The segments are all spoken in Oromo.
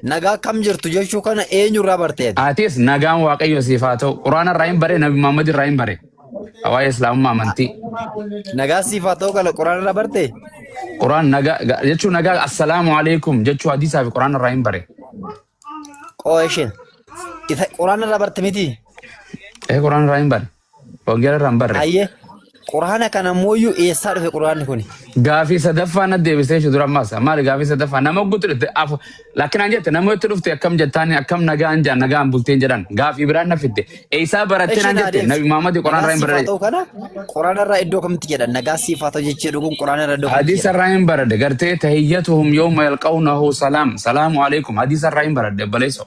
Nagaa akkam jirtu jechuu kana eenyu irraa barte ati? Atis nagaan waaqayyo siif haa ta'u. Quraana irraa hin bare, Nabi Muhammad irraa hin bare. Waa'ee Islaamummaa amantii. Nagaa siif haa ta'u kana quraana irraa barte? Quraan nagaa ga- jechuun nagaa assalaamu alaikum jechuu hadiisaa fi quraana irraa hin bare. Qoo isheen. Isa quraana irraa barte miti? Ee quraana irraa hin bare. Wangeela irraa hin barre. Ayyee. Quraana kan ammooyyuu eessaa dhufe quraanni kuni? Gaafii sadaffaa na deebisee shi dura ammaas maali gaafii sadaffaa nama ogguutti dhufte afu lakkinaan jette nama itti dhufte akkam jettaan akkam nagaan jaan nagaan bulteen jedhan gaafii biraan na fidde eessaa barattee Eshi naan naa jette deebisi. nabi Muhammad Quraan Nagaa irraa hin siif haa barre ta'u kana quraana irraa iddoo kamitti jedhan? Nagaa siif haa ta'u jechuu dhuguun quraana irraa iddoo kamitti hadiisa jedhan? irraa hin baradde gartee tahiyyatuhum yooma yalqawnahu salaam salaamu alaikum hadiisa irraa hin baradde baleessoo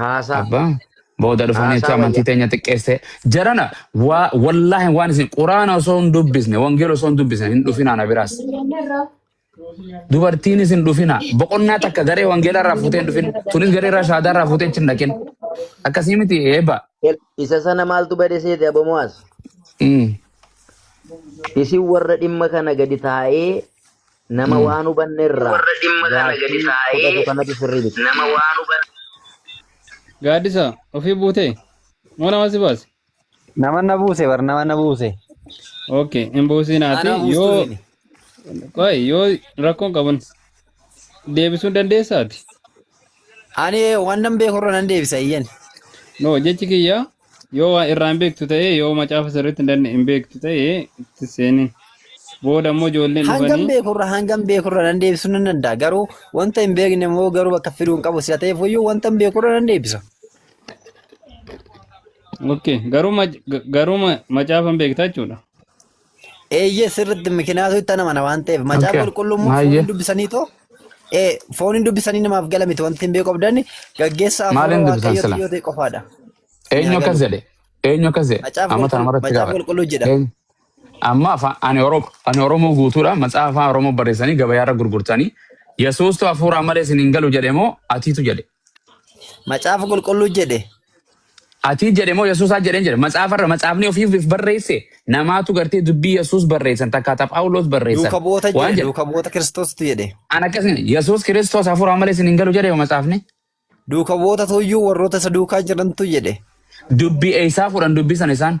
Haasaa. Abba booda dhufanii Haasaa jecha amantii wayya. teenya xiqqeessee jarana waa wallaahi waan isin quraana osoo hin dubbisne wangeela osoo hin dubbisne hin dhufinaa na biraas dubartiin isin dhufinaa boqonnaa takka garee wangeela irraa fuutee hin dhufin tunis garee irraa shaadaa irraa fuutee hin dhaqin akkasii miti eebba. El- Isa sana maaltu bade seete abomo'as? Mm. Isin warra dhimma kana gadi taa'ee Nama waan hubanne irraa gaaffii fudhatu kanatu sirrii miti. Gaaddisa, ofii buutee? Moo nama si baase? Nama na buuse bar nama na buuse. Okay, hin buusiin ati Anaa buustuu yoo miti. qoy yoo rakkoon qabun deebisuu dandeessaati. Ani waan nan beeku irra nan deebisa iyyan. No jechi kiyya Yoo waa irraa hin beektu ta'e yoo macaafa sirriitti hin danne- hin beektu ta'e itti seenin. Booda immoo ijoolleen Hangam dhufanii beekurra hangam beekurra nan deebisu nan danda'a garuu wanta hin beekne immoo garuu bakka fiduu hin qabu sila ta'eef iyyuu wanta hin beekurra nan deebisa. okay garuu mac- ga- garuu ma- macaafa hin beekta jechuudha. Eeyyee sirriitti mikinaatu itti namana waan ta'eef macaafa Okay. qulqulluu immoo Baay'ee. fooniin dubbisanii too ee fooniin dubbisanii namaaf gala miti wanti hin beeku qabdan gaggeessa Maaliin afuura dubbisan waaqayyoo sila? yoo ta'e qofaadha. Eenyu Yaa akkas galu. jedhe? Eenyu akkas jedhe? Macaafa Amma tana qulqulluu maratti macaafa gaafadha. qulqulluu jedha. Eenyu? Amma afaan ani Oromo ani Oromoo guutuudha macaafa afaan Oromoo barreessanii gabayaarra gurgurtanii Yesuustu hafuuraa malee isin hin galu jedhe moo atiitu jedhe? Macaafa qulqulluu jedhe. Atii jedhe moo Yesuusaa jedheen jedhe. Matsaafarra matsaafni ofiif if barreesse namaatu gartee dubbii Yesuus barreessan takka ta Phaawulos barreessan Duuka bu'oota waan jedhe. jedhe. Duuka bu'oota Kiristoostu jedhe. An akkasii Yesuus Kiristoos hafuuraa malee isin hin galu jedhe yoo matsaafni. Duuka bu'oota tuyyuu warroota isa duukaa jirantu jedhe. Dubbii eessaa fuudhan dubbii sana isaan.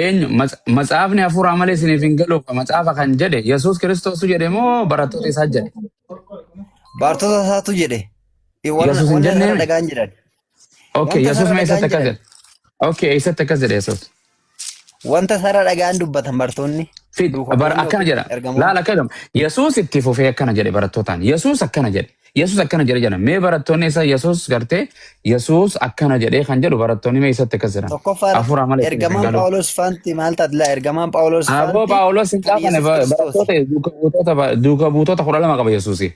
Eenyu Matsa- matsaafni hafuuraa malee isiniif hin galu ka matsaafa kan jedhe Yesuus Kiristoosu jedhe moo barattoota isaa jedhe? Baartota isaatu jedhe. Eh, Wanna Yesuus hin wanna jennee isarra mi? dhagaan jedhan. Okay, Wanta Yesuus isarra mee eessatti dhagaan akkas jedhan. jedhe? Okay, eessatti akkas jedhe Yesuus? Wanta isarra dhagaan dubbatan bartoonni. Fid, bar Duukaboonni akkana yookiin jedha. ergamoonni. Laala akkana jedha. Yesuus itti fufee akkana jedhe barattootaan. Yesuus akkana jedhe. Yesus akkana jedhe jedhan. Mee barattoonni isa Yesus gartee Yesus akkana jedhee kan jedhu barattoonni mee isatti akkas jedhan. Tokkoffaa irratti Hafuura malee ittiin isin ergamaan galu. Phaawulos faanti maal taate laa ergamaan Phaawulos Aboo faanti Phaawulos hin kan gaafane Yesus Kiristoos. barattoota duuka buutota ba- duuka buutota kudha lama qaba Yesuusi.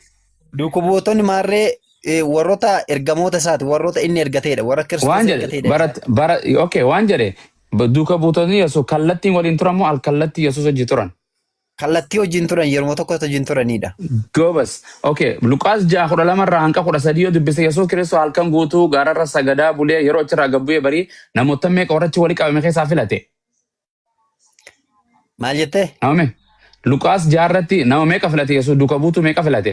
Duuka buutonni maarree eh, warroota ergamoota isaati warroota inni ergateedha warra Kiristoos Waan jedhe ergateedha barat isaati. bara okay waan jedhe ba- duuka buutonni Yesuus kallattiin waliin turan moo al kallattii Yesuus hojii turan. Kallattii wajjin turan yeruma tokkotti wajjin turanidha. Goobas. Okay. Luqaas 6:12 irraa hanga 13 yoo dubbise Yesuus Kiristoos halkan guutuu gaararra sagadaa bulee yeroo achirraa gad bu'ee barii namoota meeqa warra achi walitti qabame keessaa filate? Maal jettee? Nama meeqa? Luqaas 6 irratti nama meeqa filate Yesuus duuka buutuu meeqa filate?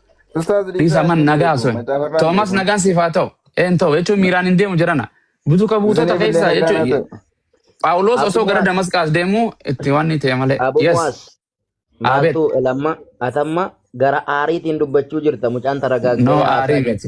Ustaaz Dhiisa Liisaa man hin nagaa beeku. sun. Macaafa irraa hin Toomas beeku. nagaan siif haa ta'u. Een ta'u jechuun miiraan hin deemu jedhana. Butuka buutota Isiniif illee keessaa nagaan haa jechuun ta'u. Phaawulos Abu osoo gara Muaz, Damasqaas deemuu itti waan ni ta'e malee. Abu Yes. Muaz, Abet. maaltu lamma atamma gara aariitiin dubbachuu jirta mucaan taragaagaa No haasaa aarii jira. miti.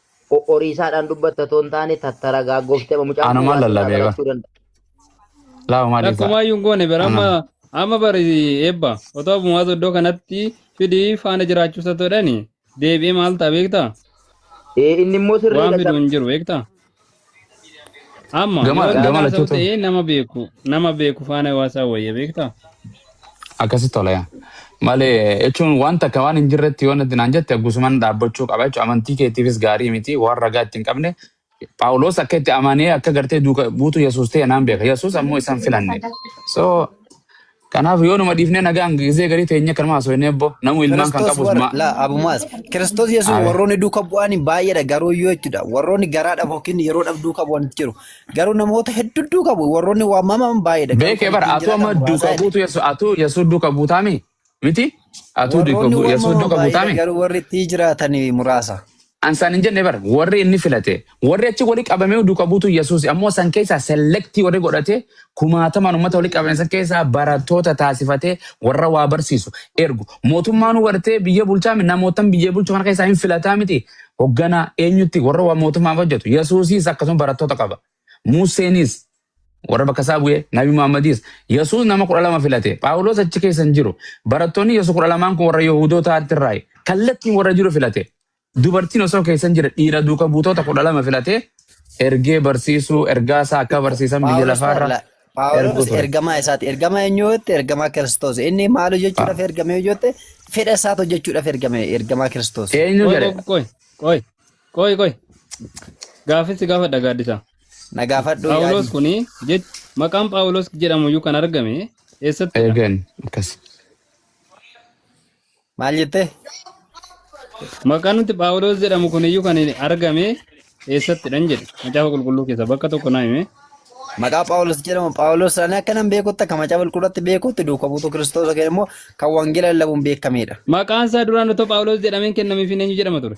Qoqqoriisaadhaan dubbatta otoo hin taane tattaragaaggoftee amma mucaan kun Anumaan waan sirraa lallabee bara. barachuu danda'a. Laa maal isaa? Takkumaa iyyuu hin goone bara amma Anaan. amma bara eebba otoo bumaa soddoo kanatti fidii faana jiraachuu isa ta'edhani deebi'ee maal ta'a beektaa? Ee inni immoo Waan sirriidha fidu hin jiru beektaa? Amma Gama- yoo gama dhaalaan lachuu ta'u ta'u. ta'ee nama beeku nama beeku faana waasaa wayya beektaa? Akkasitti tola yaa. Malee jechuun wanta akka waan hin jirretti yoo natti naan jette gusuman dhaabbachuu qaba jechuudha. Amantii keetiifis gaarii miti waan ragaa itti hin qabne. Phaawulos akka itti amanee akka gartee duuka buutu Yesuus ta'e naan beeka. Yesuus ammoo isaan filanne. So Kanaaf yoonuma dhiifnee nagaan gisee garii teenyee kanuma haasofnee ebboo namuu ilmaan kan Kiristoos qabus warra ma laa abumaas Kiristoos Yesuus Abe. warroonni duuka bu'aan baay'eedha garuu yoo jechuudha warroonni garaa dhabu yookiin yeroo dhabu duuka bu'an jiru garuu namoota hedduu duuka bu'u warroonni waamaman baay'eedha garuu beekee kan bara ittiin atuu amma jiraatan duuka muraasaadha buutu yesu atuu yesu duuka buutaami miti atuu duuka warroonni buu yesu waamaman duuka baay'eedha buutaami garuu warri ittiin jiraatan muraasa. An san hin jenne bar warri inni filate warri achi wali qabamee duuka buutu Yesuus ammoo san keessaa selektii warri godhate kumaatamaan uummata wali qabame san keessaa barattoota taasifatee warra waa barsiisu ergu mootummaan hubartee biyya bulchaa mi namootan biyya bulchu kana keessaa hin filataa miti hogganaa eenyutti warra waa mootummaaf hojjetu Yesuusiis akkasuma barattoota qaba. Muusseenis warra bakka isaa bu'e, Nabi Muhammadis. Yesuus nama kudha lama filate. Phaawulos achi keessa hin jiru. Barattoonni Yesuus kudha lamaan kun warra Yihudootaatti irraayi. Kallattiin warra jiru filate. Dubartiin osoo keessa hin jirre dhiira duuka buutoota kudha lama filate ergee barsiisuu ergaa isaa akka barsiisan biyya Phaawulos lafaarra Paawula- erguu Phaawulos ture. ergamaa isaati. Ergamaa eenyu jette? Ergamaa Kiristoos. Inni maal hojjechuudhaaf ergame yoo jette? Fedha isaati hojjechuudhaaf ergame ergamaa Kiristoos. Eenyu Qoy jedhe? qoy qoy qoy. Qoy qoy. Gaafin si gaafadha gaaddisa. Na gaafadhu Phaawulos yaadi. kuni jech maqaan Phaawulos jedhamu iyyuu kan argame eessattidha? Eegan akkas. Maal jettee? Maqaan nuti Phaawulos jedhamu kun iyyuu kan argame eessattidhan jedhe. Macaafa qulqulluu keessa bakka tokko naa hime. Maqaa Phaawulos jedhamu Phaawulos ani akka nan beekutti akka macaafa qulqulluutti beekutti duuka buutuu Kiristoos yookiin immoo kan wangeela lallabuun beekamedha. Maqaan isaa duraan otoo Phaawulos jedhameen kennameefiin eenyu jedhama ture?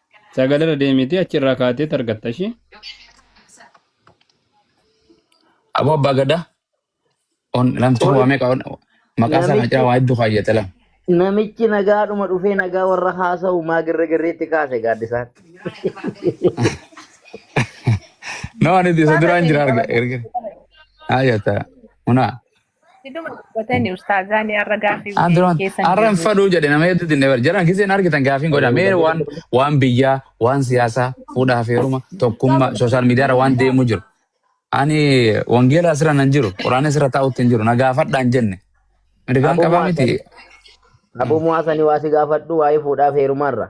Sagal irra deemiti achi irraa kaatee targatta ishii. Aboo abbaa gadaa. On lamtuu Ol- waa meeqa on maqaa isaa kana namichi- cira waa hedduu kaayyate lam. Namichi nagaadhuma dhufee nagaa warra haasa'u maa girrigirriitti kaase gaaddisaan. No ani isa duraan jira arga erga. Ayata. Una. Hiduma dubbatani ustaazaan har'a gaaffii Aan duraan keessan har'a hin deebi'u. fadhuu jedhe nama hedduu dinne bara. Jaran giseen argitan gaafiin godha. Mee waan waan biyyaa, waan siyaasaa, fuudhaa fi heeruma, tokkummaa, sooshaal miidiyaarra waan deemuu jiru. Ani wangeela asirra nan jiru, quraana asirra taa'utti hin jiru, na gaafadhaa hin jenne. Mirgaan Aboo qabaa miti. Muhaasani aboo muhaasani waa si gaafadhu waa'ee fuudhaaf heerumaarra.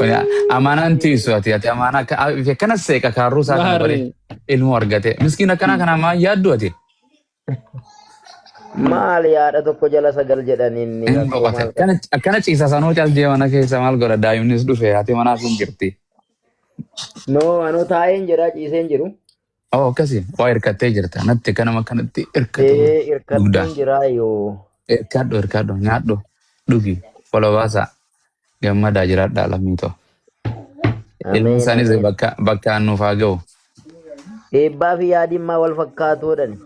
Oya, amaanaan tiisu ati ati amaanaa akka a- fi akkana seeqa kaarruu isaa kana bari Maari. ilmoo argate miskiin akkanaa kana maa yaaddu ati Maal yaada tokko jala sagal jedhan inni hin rakkoo boqote maal qaba? akkana akkana ciisa sanuu caldee mana keessa maal godha daa'imnis dhufe ati manaas hin jirti No, anoo taa'een jira ciiseen jiru. Oo akkasi waa hirkattee jirta natti akka nama kanatti hirkatee Ee dugdaan irkadheen jiraa yoo. hirkaadhu hirkaadhu nyaadhu dhugi wala baasaa gammadaa jiraadhaa lammii too ilmi Ameen isaanis ameen. bakka bakkaan nuuf haa ga'u. Eebbaa fi yaadimmaa wal fakkaatuudhani.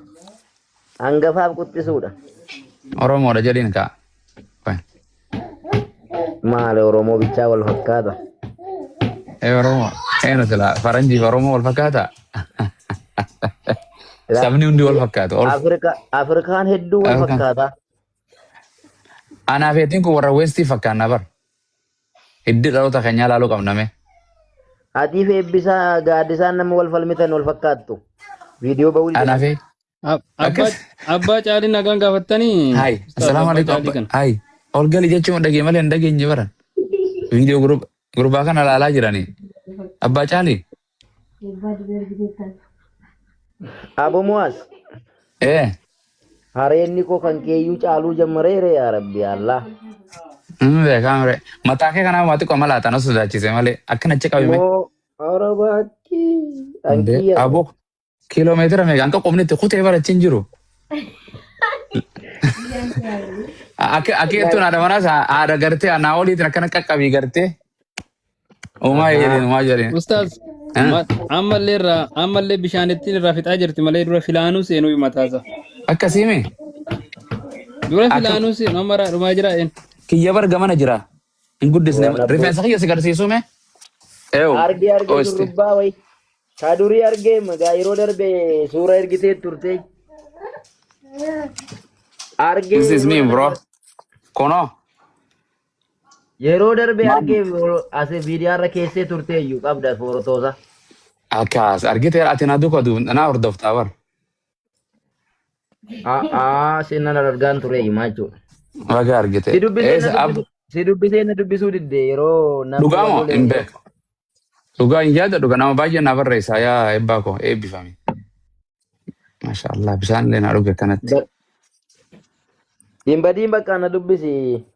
Hangafaaf quxxisuudha. Oromoodha jedhiin kaa. Qoy. Maali Oromoo bichaa wal fakkaata. Ee Oromoo. Eenu silaa faranjiif Oromoo wal fakkaata. Silaa Sabni hundi wal fakkaatu. Ol Afrika Afrikaan hedduu wal Afrikaan. fakkaata. Anaa fi atiin kun warra Westii fakkaanna bar. Hiddi dhaloota keenyaa ilaaluu qabna mee. Atii fi eebbisaa gaaddisaan nama wal falmitan wal fakkaattu. Viidiyoo ba'uu Anaa didanii. fi Ab- Abbaa Akkas. abbaa caalii nagaan gaafattanii Hai, ustaaz assalamu abbaa alaikum. caalii Abba. kana. Hai. Ol gali jechuun dhagee malee hin dhageenye bara. Viidiyoo gurub- gurbaa kana ilaalaa jirani. Abbaa Caalii. Abo Muaz, Eh. hareenni koo kan keeyyuu caaluu jammareere yaa rabbi Allah. Inni beekaa mire. Mataa kee kanaa maatii qoma laata na sodaachise malee akkana achi qabime. Moo arabaakkii Hundee. ankiyya. Aboo Kiiloomeetira meeqa hanga qubni itti kutee bara ittiin jiru. Akka akka jettuun haadha manaas haadha gartee anaa oliitiin akkana qaqqabii gartee. Uumaa jedheen uumaa jedheen. Ustaaz Eh? ma- ammallee irraa ammallee bishaanittiin irraa fixaa jirti malee dura filaanuu seenuu himataasa. Akkasii mee Dura Akka- filaanuu seenuu amma irraa dhumaa jira een. kiyya barga mana jira. Hin guddisne. Waan abboo. Rifeensa kiyya si garsiisuu mee? Eew. Arge arge Oisti. shurrubbaa wayi. Kaa durii arge magaa yeroo darbe suura ergitee turte. Arge This is me yeroo bro. darbe Kunoo. yeroo darbe Maam. arge as viidiyaa irra keessee turte iyyuu qabda foorotoosa. Akkaas argiteera ati na duka du na hordoftaa bar. A'aa seenaan argaan ture himaa jechuudha. Baga argite. Si dubbisee na Eessa ab dubbisu si dubbisee na dubbisuu didde yeroo namni dhugaa wal moo lole hin yeroo beeku. Dhugaa hin yaada dhuga nama baay'ee na barreessa yaa eebbaa koo eebbifame. Masha Allah bishaan illee na dhuge kanatti. Ba- hin badiin bakka na dubbisi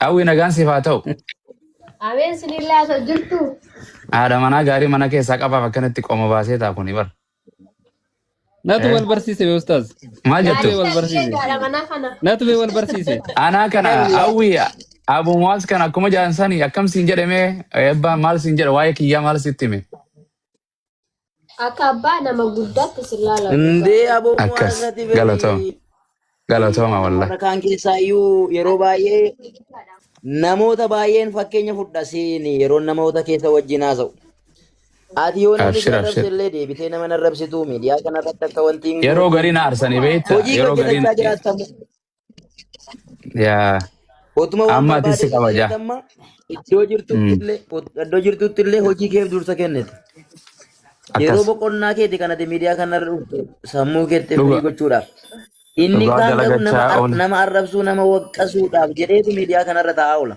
Hawwi nagaan siif haa ta'u. Ameen sinillaa isa jirtu. Haadha manaa gaarii mana keessaa qabaaf akkanatti qoma baasee ta'a kuni bar. Natu Eh. wal barsiise bee ustaaz. Maal jettu? Gaariidha wal barsiise. ishee gaadha manaa kana. Natu bee wal barsiise. Anaa kana hawwi Abu Muwaaz kana akkuma jaansani akkam siin jedhame eebbaa maal siin jedha waa'ee kiyyaa maal sitti hime? Akka abbaa nama guddaatti sin laala. Indee aboo waan Akkas. irratti beekii. Galatoom. Galatooma Amma wallah. warra kaan keessaa iyyuu yeroo baay'ee namoota baay'een fakkeenya fudha siin yeroo namoota keessa wajjin haasa'u. Ati yoo namni si Abshir, arrabse abshir. illee deebitee nama hin arrabsitu miidiyaa kanarratti akka wanti hin Yeroo goone garii na arsanii beektaa? hojii Yeroo garii hojjetachaa jiraattamu. Yaa Otuma waan amma atis si barbaade kabaja. kennite amma iddoo jirtutti Mm. illee iddoo jirtutti illee hojii keef dursa kennite. Yeroo Akkas boqonnaa keeti kan ati miidiyaa kanarra dhufte sammuu keetti firii dhuga gochuudhaaf. Inni dhugaa kaan garuu nama dalagachaa ar- oole. nama arrabsuu nama waqqasuudhaaf jedheetu miidiyaa kanarra taa'aa oola.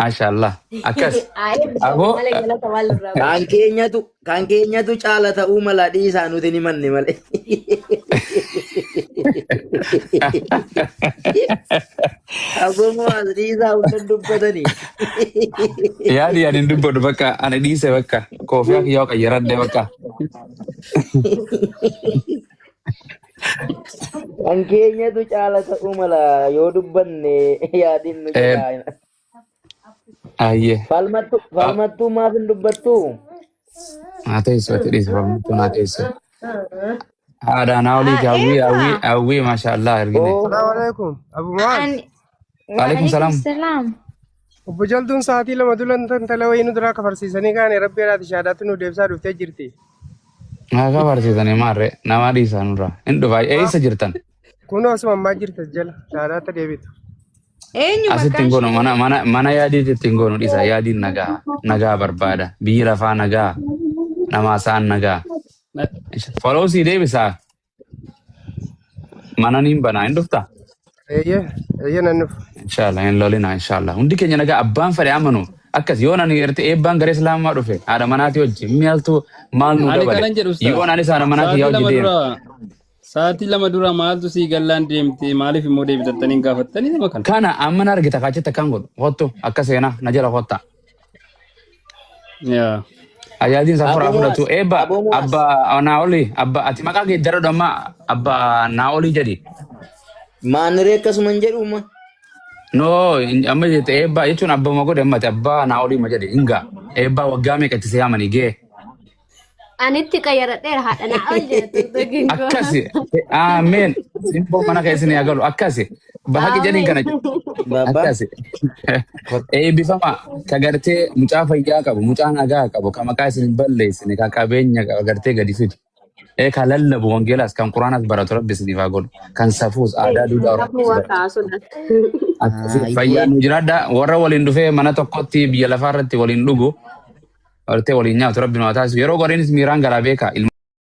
Maashaallah. Akkas. Aayee bisaanii Aboo malee galata waan irraa Kan buusu. keenyatu kan keenyatu caala ta'uu mala dhiisaa nuti ni manne malee. Aboomoo as dhiisaa hundan dubbatanii. yaadi ani hin dubbadhu bakka ani dhiise bakka koofiyaa kiyyaa qayyaradhe bakka. Kan keenyatu caala ta'uu mala yoo dubbanne yaadiin nu Eh, jalaa. Ayyee. Falmattu Ah, falmattuu maaf hin dubbattu? Naa teessoo itti dhiisa falmattu naa teessoo. Haadha naa olii Ah, kaawwii Eva, hawwii hawwii maashaallah argine. Oo Assalamu alaikum. Abu Muaz. and Waalaikum salaam. salaam. Obbo Jaltuun sa'aatii lama dura intala wayii nu duraa kafarsiisanii kaane rabbi irraati shaadaatti nu deebisaa dhuftee jirti. Haa kafarsiisanii maarree namaa dhiisaa nurraa. Hin dhufaa eessa jirtan? Kun osuma ammaa jirta jala shaadaatti deebitu. Eenyu Asitti hin goonu mana mana mana yaadiitti ittiin goonu dhiisa yaadiin nagaa nagaa barbaada biyyi lafaa nagaa namaa sa'an nagaa. Foloo sii deebisaa Mana niin banaa hin dhuftaa? Eeyyee, eeyyee nan dhufa. Inshallah hin lolinaa inshallah. Hundi keenya nagaa abbaan fedhe amanu. Akkas yoon ani irti eebbaan garee islaamaa dhufe haadha manaatii hojji maaltu maal nu Ani dabale. kanan jedhu ustaaz. Yoon anis haadha manaa kiyyaa Sa'aatii hojji lama deema. dura sa'aatii lama dura maaltu sii gallaan deemte maaliif immoo deebitattanii hin gaafattanii nama kana. Kana amma na argita kaachitti akkan godhu. Kottu akka seenaa na jala kottaa. Yaa. Ajaajin san furaa Aboo fudhatu. Muwaas, Eebba Aboo Muwaas. abba Naa'olii abba ati maqaa kee jara dhamma abba Naa'olii jedhi. Maaniree akkasuma hin jedhu ma. No amma jette eebbaa jechuun abbaa ma godhe ammati abbaa Naa'olii ma jedhe hingaa eebbaa waggaa meeqa itti see'amanii gee. Anitti qayyaradheera haadha naa ol jedhe turtagin koo. akkasi aameen simboo mana keessan yaa galu akkasi bahaqi jedhin kana jedhu Baba. akkasi Kot. eebbifama ka gartee mucaa fayyaa qabu mucaa nagaa qabu ka maqaa isin hin balleessine ka qabeenya qabu gartee gadi fidu ee ka lallabu wangeelaas kan quraanas baratu rabbi isiniif haa godhu kan safuus aadaa duudhaa Kafuu oromoos waan baratu kaasuun akkasi Ah, fayyaa iyyee. nu jiraadha warra waliin dhufee mana tokkotti biyya lafaa irratti waliin dhugu Artee waliin nyaatu rabbi nu haa taasisu. Yeroo goreenis miiraan garaa beeka.